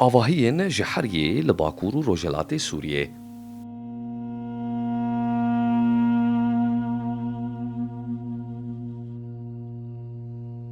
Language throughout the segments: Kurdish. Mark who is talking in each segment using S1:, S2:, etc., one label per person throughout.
S1: Avahiyên ji Heryê li Bakur û Rojhilatê Sûriyê.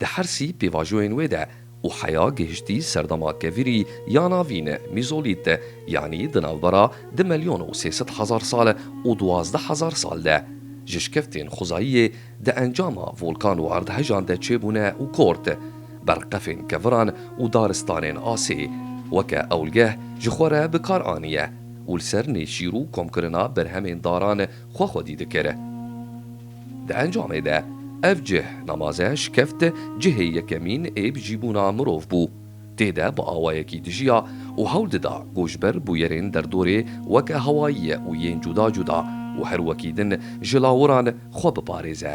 S1: Di hersî pêvajoyên wê de û heya gihiştî serdema kevirî ya navîn, mîzolît, yanî di navbera di melyon û sê sed hezar sal û duwazdeh hezar sal de, ji şikevtên xwezayiyê di encama volkan û erdhejan de çêbûne û kort, berqefên keviran û daristanên asê weke ewlgeh ji xwe re bi kar aniye û li ser nêşîr û komkirina berhemên daran, xwe xwedî dikir. Di encamê de ev cih, namaze, şikeft cihê yekemîn ê bijîbûna mirov bû. Tê de bi awayekî dijiya û hewl dida ku ji ber bûyerên derdorê weke hewayî û yên cuda cuda û her wekî din ji lawiran xwe biparêze.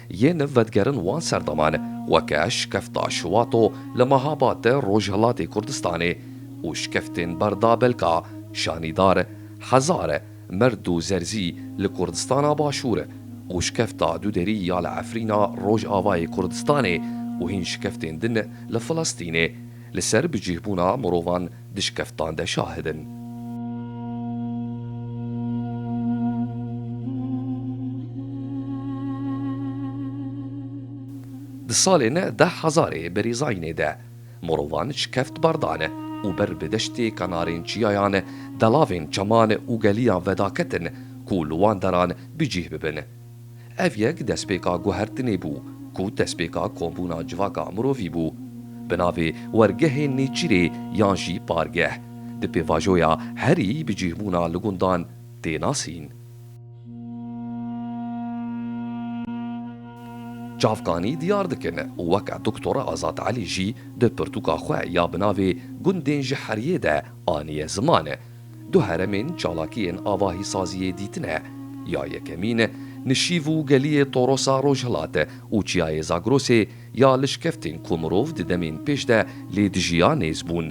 S1: Yê niv vedigerin wan serdaman weke şikefta Şuwato li Mehabate Rojhilatê Kurdistanê û şikeftên berda belka Şanîdar, Hezar, Merd û Zerzî li Kurdistana Başûr û şikefta Duderî ya li Efrîna Rojavayê Kurdistanê û hîn şikeftên din li Filistînê li ser bicîhbûna mirovan di şikeftan de şahid in. Di salên deh hezarê berîzayînê de mirovan şikeft berdane û ber bi deştê kenarên çiyayan, delavên çeman û geliyan vedaketin ku li wan deran bi cîh bibin. Ev yek destpêka guhertinê bû ku destpêka kombûna civaka mirovî bû. Bi navê wergehê nêçîrê yan jî pargeh, di pêvajoya herî bi cîhbûna li gundan tê nasîn. Çavkanî diyar dikin û weke Doktor Azad Elî jî di pirtûka xwe ya bi navê Gundên ji Heriyê de aniye ziman, Du heremên çalakiyên avahîsaziyê dîtine, ya yekemîn nişîv û geliyê Torosa Rojhilat û çiyayê Zagrosê ya lişkeftên ku mirov di demên pêş de lê dijî ya nêz bûn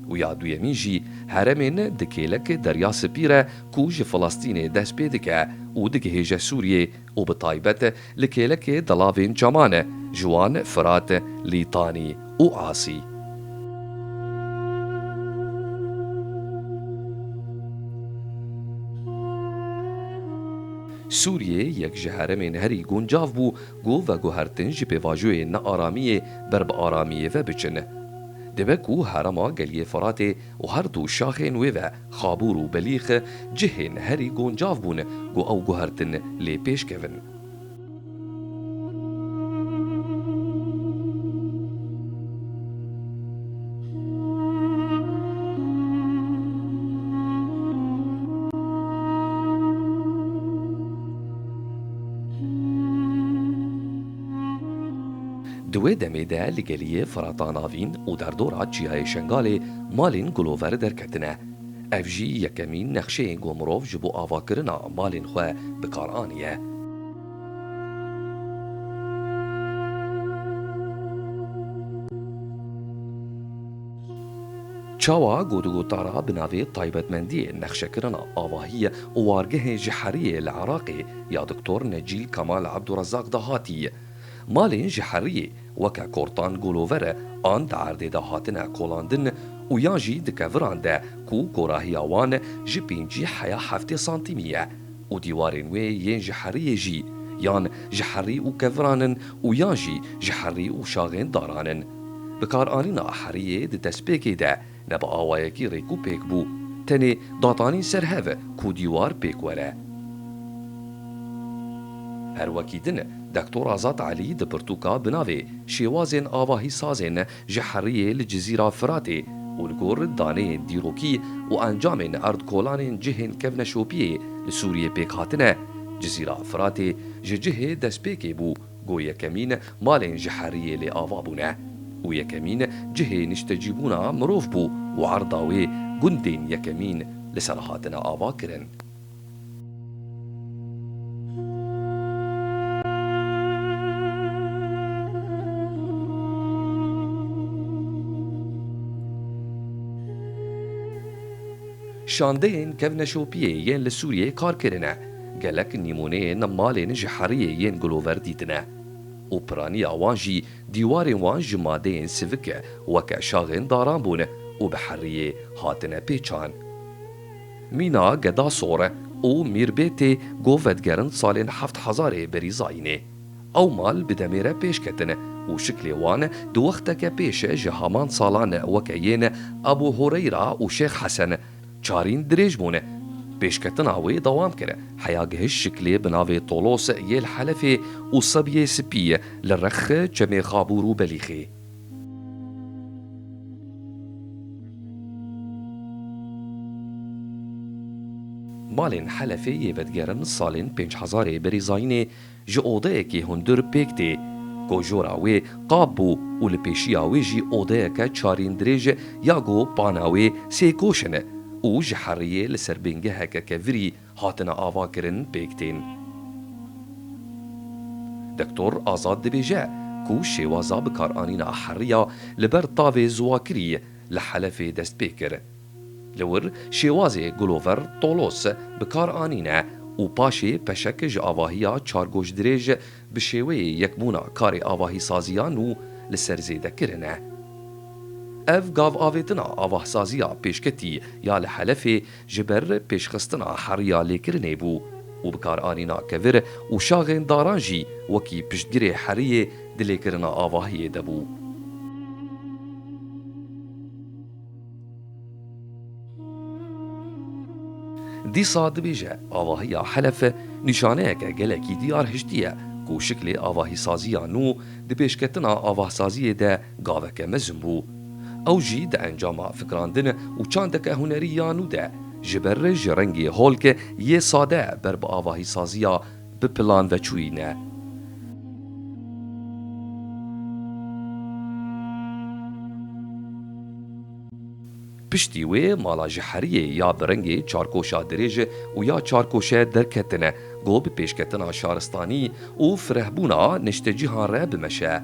S1: û ya duyemîn jî heremên di kêlek Derya Sipî re ku ji Filastînê dest pê dike û digihêje Sûriyê û bi taybet li kêlekê delavên çaman e, ji wan Firat, Lîtanî û Asî. Sûriyê yek ji heremên herî guncav bû ku veguhertin ji pêvajoyên nearamiyê ber bi aramiyê ve biçin. Dibe ku herema Geliyê Firatê û her du şaxên wê ve, Xabûr û Belîx cihên herî guncav bûn ku ew guhertin lê pêş kevin. Di wê demê de li geliyê Firata Navîn û derdora Çiyayê Şengalê malên Gulover derket. tine. Ev jî yekemîn nexşeyên ku mirov ji bo avakirina malên xwe bi kar aniye. Çawa gotigotara bi navê Taybetmendiyên nexşekirina avahî û wargehên ji heriyê li Iraqê ya Diktor Necîl Kemal Ebdurezaq de hatî. Malên ji heriyê weke kortan golover an di erdê de hatine kolandin û yan jî di keviran de ku korahiya wan ji pêncî heya heftê santîmî ye û dîwarên wê yên ji heriyê jî yan ji herî û keviran in û yan jî ji herî û şaxên daran in. Bikaranîna heriyê di destpêkê de Ne bi awayekî rêk û pêk bû. Tenê datanîn ser hev e ku dîwar pêk were. Her wekî din e, Dektor Azad Elî di pirtûka bi navê Şêwazên avahî sazên ji heriyê li Cizîra Firatê û li gor daneyên dîrokî û encamên erdkolanên cihên kevneşopiyê li Sûriyê pêk hatine, Cizîra Firatê ji cihê destpêkê bû. Ku yekemîn malên ji heriyê lê ava bûne û yekemîn cihê niştecîbûna mirov bû û erda wê gundên yekemîn li ser hatine avakirin. Şandeyên kevneşopiyê yên li Sûriyeyê kar kirine. Gelek nîmûneyên malên ji heriyê yên Glover dîtine û piraniya wan jî dîwarên wan ji madeyên sivik weke şaxên daran bûn û bi heriyê hatine pêçan. Mîna Geda Sor û Mîrbê tê ku vedigerin salên heft hezarê berî zayînê. Ew mal bi demê re pêş ketin û şiklê wan di wexteke pêş ji haman salan weke yên Ebû Hureyra û Şêx Hesen Çarîn dirêj bûne. Pêşketina wê dewam kere. Heya gihişt şiklê bi navê Tolos yê li Helefê û sebiyê spî ye li Rexxê, Çemê Xabûr û Belîxê. Malên Helefê yê vedigerin salên pênc hezarê berî zayînê Ji odeyekê hundir pêk tê. Kojora wê qab bû û li pêşiya wê jî odeyeke çarîn dirêj e ya ku pana wê sê koşin e û ji heriyê li ser bingeheke kevirî hatine avakirin pêk tên. Doktor Azad dibêje ku şêwaza bikaranîna heriya li ber tavê ziwakirî li Helefê dest pê kir. Li wir şêwazê Gulover Tolos bi kar anîne û paşê peşek ji avahiya çargoşdirêj bi şêweyê yekbûna karê avahîsaziya nû li ser zêde kirine. Ev gavavêtina avahsaziya pêşketî ya li Helefê ji ber pêşxistina heriya lêkirinê bû û bi kar anîna kevir û şaxên daran jî wekî piştgirê heriyê di lêkirina avahiyê de bû. Dîsa dibêje avahiya Helef nîşaneyeke gelekî diyar hiştiye ku şiklê avahîsaziya nû di pêşketina avahsaziyê de gaveke mezin bû. Ew jî di encama fikrandin û çandeke hunerî ya nû de ji ber ji rengê holk yê sade ber bi avahîsaziya bi plan ve çûyîne. Piştî wê mala ji heriyê ya bi rengê çarkoşa dirêj û ya çarkoşe derketine ku bi pêşketina şaristanî û firehbûna niştecîhan re bimeşe.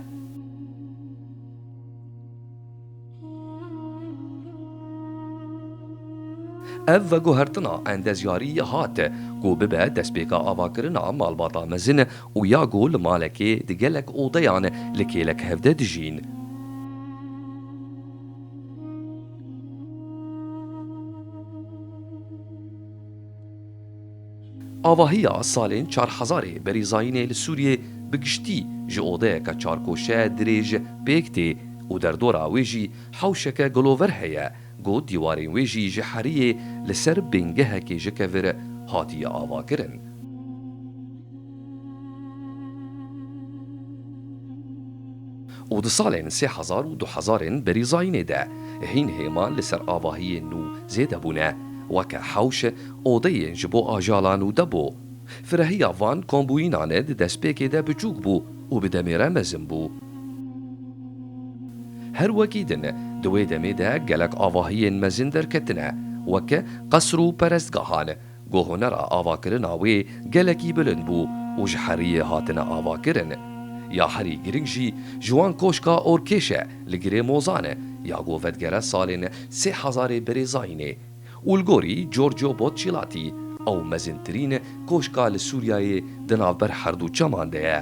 S1: Ev veguhertina endezyarî hat ku bibe destpêka avakirina malbata mezin û ya ku li malekê di gelek odeyan li kêlek hevdeh dijîn. Avahiya salên çar hezarê berîzayînê li Sûriyê bi giştî ji odeyeke çarkoşe dirêj pêk tê û derdora wê jî hewşeke gulover heye ku dîwarên wê jî ji heriyê li ser bingehekê ji kevir hatiye avakirin. û di salên sê hezar û du hezarên berî zayînê de hîn hêma li ser avahiyên nû zêde bûne weke hewş odeyên ji bo ajalan û debo. Firehiya van kombûyînan e di destpêkê de biçûk bû û bi demê re mezin bû. Her wekî din di wê demê de gelek avahiyên mezin derketine weke qesr û perestgahan, ku hunera avakirina wê gelekî bilind bû û ji heriyê hatine avakirin. Ya herî girîng jî ji wan Koşka Orkêş e li girê Mozan e ya ku vedigere salên sê hezarê birêzayînê û li gorî Giorgio Botçîlatî ew mezintirîn koşka li Sûriyeyê di navber herdu çeman de ye.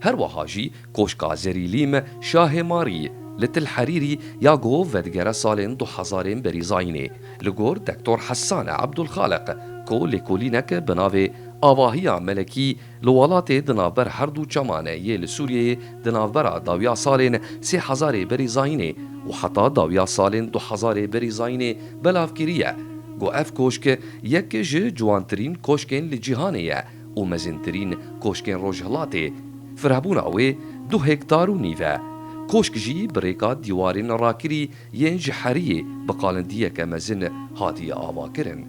S1: Her wiha jî Koşka Zerîlîm Şahê Marî li Til Herîrî ya ku vedigere salên du hezar ên berîzayînê li gor Dektor Hessan Ebdulxaliq ku lêkolînek bi navê Avahiya Melekî li welatê di navber her du çeman yê li Sûriyeyê Di navbera dawiya salên sê hezarê berî zayînê û heta dawiya salên du hezarê berî zayînê belav kiriye ku ev koşk yek ji ciwantirîn koşkên li cîhanê ye û mezintirîn koşkên Rojhilatê firehbûna wê du hektar û nîv e. Koşk jî bi rêka dîwarên rakirî yên ji heriyê bi qalindiyeke mezin hatiye avakirin.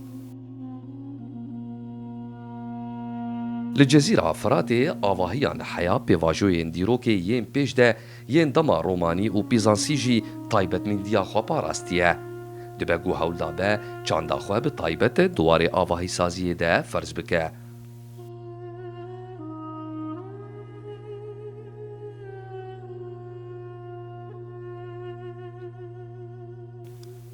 S1: Li Cezîra Firatê avahiyan heya pêvajoyên dîrokê yên pêş de yên dema romanî û pîzansî jî taybetmendiya xwe parastiye. Dibe ku hewldabe çanda xwe bi taybet di warê avahîsaziyê de ferz bike.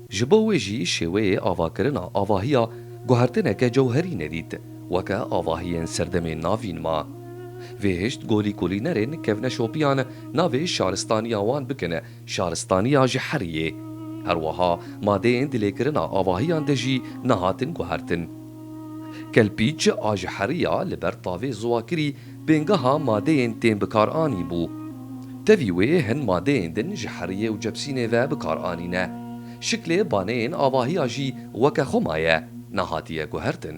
S1: Ji bo wê jî şêweyê avakirina avahiya guhertineke cewherî nedît, weke avahiyên serdemên navîn ma. Vê hişt golî kulînerên kevneşopiyan navê şaristaniya wan bikin şaristaniya ji herî yê. Herwiha madeyên dilêkirina avahiyan de jî nehatin guhertin. Kelpîç a ji herî ya li ber tavê ziwakirî, pêngeha madeyên tên bikar anî bû. Tevî wê hin madeyên din ji heriyê û cebsînê ve bikar anîne. Şiklê baneyên avahiya jî weke xwe maye, nehatiye guhertin.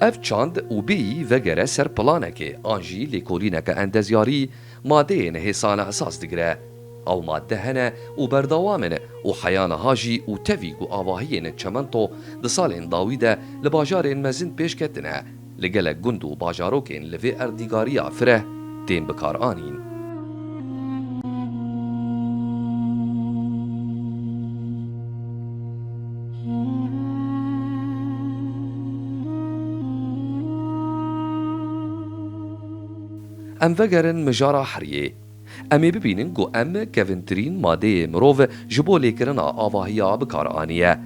S1: Ev çand û bî vegere ser planekê an jî lêkolîneke endezyarî madeyên hê sane esas digire. Ew made hene û berdewam in û heya niha jî û tevî ku avahiyên çimento di salên dawî de li bajarên mezin pêş ketine, li gelek gund û bajarokên li vê erdnîgariya fireh, tên bikaranîn. Em vegerin mijara heriyê. Em ê bibînin ku em kevintirîn madeyê mirov ji bo lêkirina avahiya bikaranîye.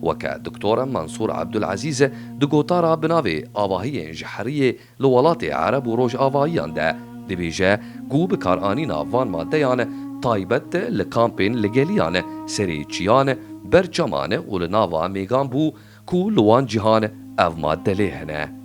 S1: Weke Doktor Mansûr Ebdulezîz di gotara bi navê Avahiyên ji heriyê Li welatê Ereb û Rojavayiyan de dibêje ku bikaranîna van madeyan taybet li kampên li geliyan, serê çiyan, ber çeman û li nava mêgan bû ku li wan cihan ev made lê hene.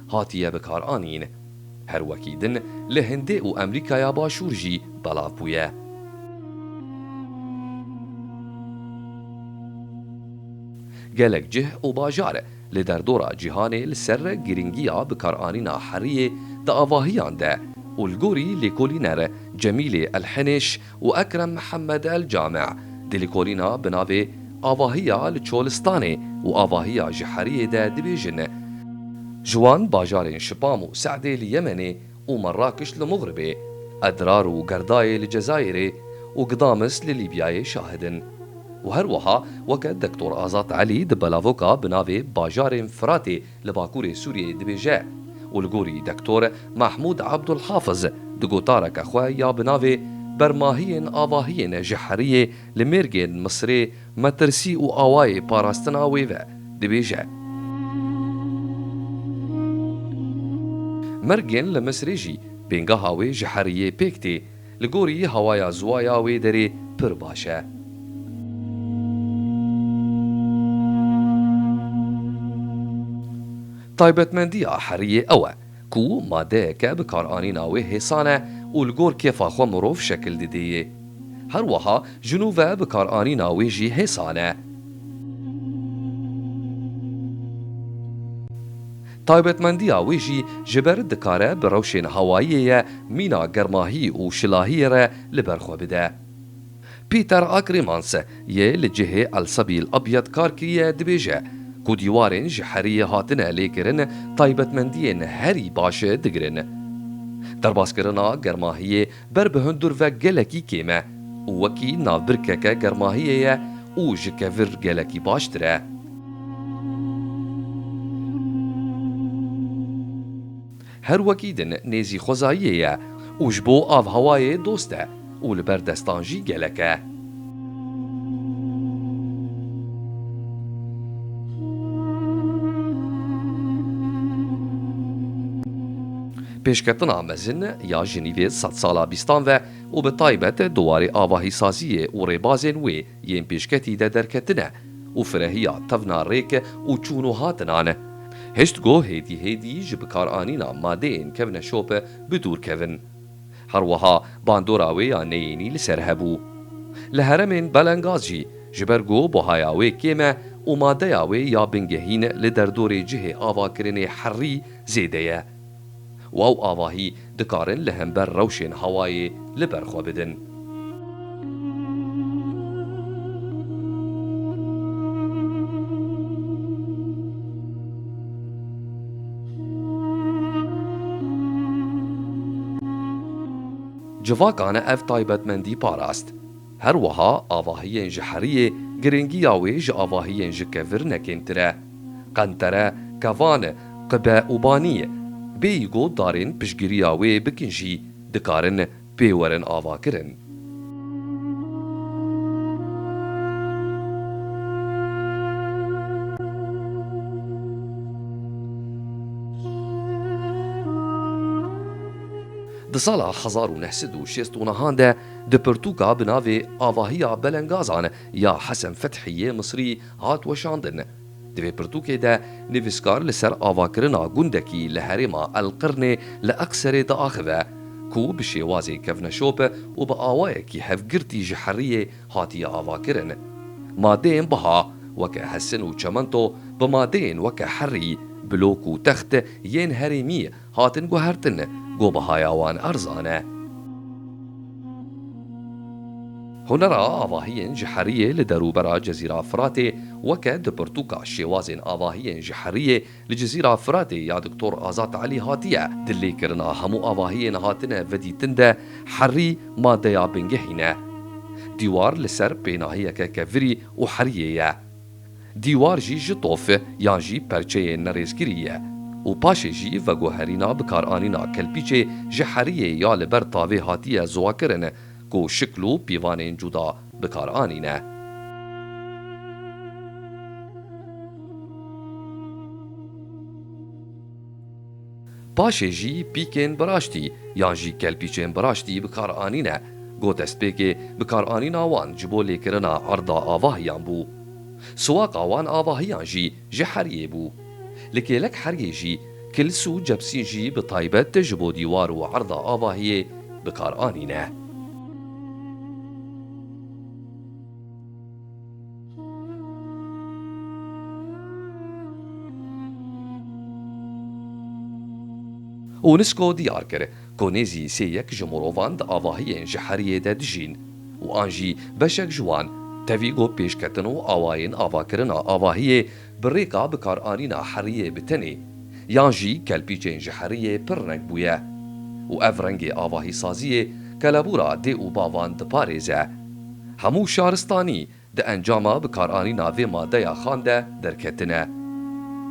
S1: hatiye bikaranîn. Her wekî din li Hindê û Emrîkaya Başûr jî belav bûye. Gelek cih û bajar li derdora cîhanê li ser girîngiya bikaranîna heriyê di avahiyan de û li gorî lêkolîner Cemîlê Elhenêş û Ekrem Mihemed El Came di lêkolîna bi navê Avahiya li Çolistanê û Avahiya ji Heriyê de dibêjin, Ji wan bajarên Şipam û Se'dê li Yemenê û Merrakiş li Mugribê, Edrar û Gerdayê li Cezayirê û Gdamis li Lîbyayê şahid in. Û her wiha weke Dektor Azad Elî di belavoka bi navê Bajarên Firatê, li Bakurê Sûriyeyê dibêje û li gorî Dektor Mahmûd Abdulhafiz di gotareke xwe ya bi navê Bermahiyên avahiyên ji heriyê li mêrgên Misirê metirsî û awayê parastina wê ve dibêje, Mêrgên li Misirê jî bêngeha wê ji heriyê pêk tê. Li gorî hewaya ziwa ya wê derê pir baş e. Taybetmendiya heriyê ew e ku madeyeke bikaranîna wê hêsan e û li gor kêfa xwe mirov şekil didê yê. Her wiha ji nû ve bikaranîna wê jî hêsan e. Taybetmendiya wê jî ji ber dikare bi rewşên hawayiyê ye mîna germahî û şilahiyê re li ber xwe bide. Peter Akremans yê li cihê Elsebîl Ebyed kar kiriye dibêje ku dîwarên ji heriyê hatine lêkirin taybetmendiyên herî baş digirin. Derbaskirina germahiyê Ber bi hundir ve gelekî kêm e û wekî navbirkeke germahiyê ye û ji kevir gelekî baştir e. Her wekî din nêzî xwezayiyê ye û ji bo avhewayê dost e û li ber destan jî gelek e. Pêşketina mezin ya Jinîvê di sedsala bîstan ve û bi taybet di warê avahîsaziyê û rêbazên wê yên pêşketî de derketine û firehiya tevna rêk û çûn û hatinan e. Hiştgo hêdî hêdî ji bikaranîna madeyên kevneşop bi dûr kevin. Her wiha bandora wê ya neyênî li ser hebû. Li heremên Belengaz jî ji ber ku buhaya wê kêm e û madeya wê ya bingehîn li derdorê cihê avakirinê herî zêde ye, Waw avahî dikarin li hember rewşên hawayê li ber xwe bidin. Civakane ev taybetmendî parast. Her wiha avahiyên ji heriyê girêngiya wê ji avahiyên ji kevir ne kêmtir e. Qentere, kevan, qibe û banî bêyî got darên piştgiriya wê bikin jî dikarin pê werin avakirin. Di sala hezar û neh sed û şêst û nihan de Di pirtûka bi navê Avahiya Belengazan ya Hesen Fethî yê Misrî hat weşandin. Di vê pirtûkê de nivîskar li ser avakirina gundekî li herêma El Qirnê li Eqserê diaxive ku bi şêwazê kevneşop û bi awayekî hevgirtî ji heriyê hatiye avakirin. Madeyên biha weke hesin û çemento bi madeyên weke herî, blok û text yên herêmî Hatin guhertin ku bihaya wan erzan e. Hunera avahiyên ji heriyê li derûbera Cezîra Firatê weke di pirtûka Şêwazên avahiyên ji heriyê li Cezîra Firatê ya Doktor Azad Elî hatiye di lêkirina hemû avahiyên hatine vedîtin de herî madeya bingehîn e. Dîwar li ser pênahiyeke kevirî û heriyê ye. Dîwar jî ji tof yan jî perçeyê nirêzkirî ye û paşê jî veguherîna bikaranîna kelpîçê ji heriyê ya li ber tavê hatiye ziwakirin ku şikl û pîvanên cuda bikar anîne. Paşê jî pîkên biraştî yan jî kelpîçên biraştî bi kar anîne ku destpêkê bikaranîna wan ji bo lêkirina erda avahiyan bû. Siwaqa wan avahiyan jî ji heryê bû. Li kêlek heryê jî kils û cebsîn jî bi taybet ji bo dîwar û erda avahiyê bi kar anîne. UNESCO diyar kir ku nêzî sê yek ji mirovan di avahiyên ji heriyê de dijîn û an jî beşek ji wan tevî ku pêşketin û awayên avakirina avahiyê bi rêka bikaranîna heriyê bi tenê yan jî kelpîçên ji heriyê pir reng bûye û ev rengê avahîsaziyê kelebûra dê û bavan diparêze. Hemû şaristanî di encama bikaranîna vê madeya xan de derketine.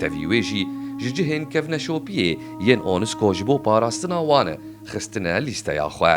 S1: Tevî wê jî ji cihên kevneşopiyê yên ONUSCO ji bo parastina wan xistine lîsteya xwe.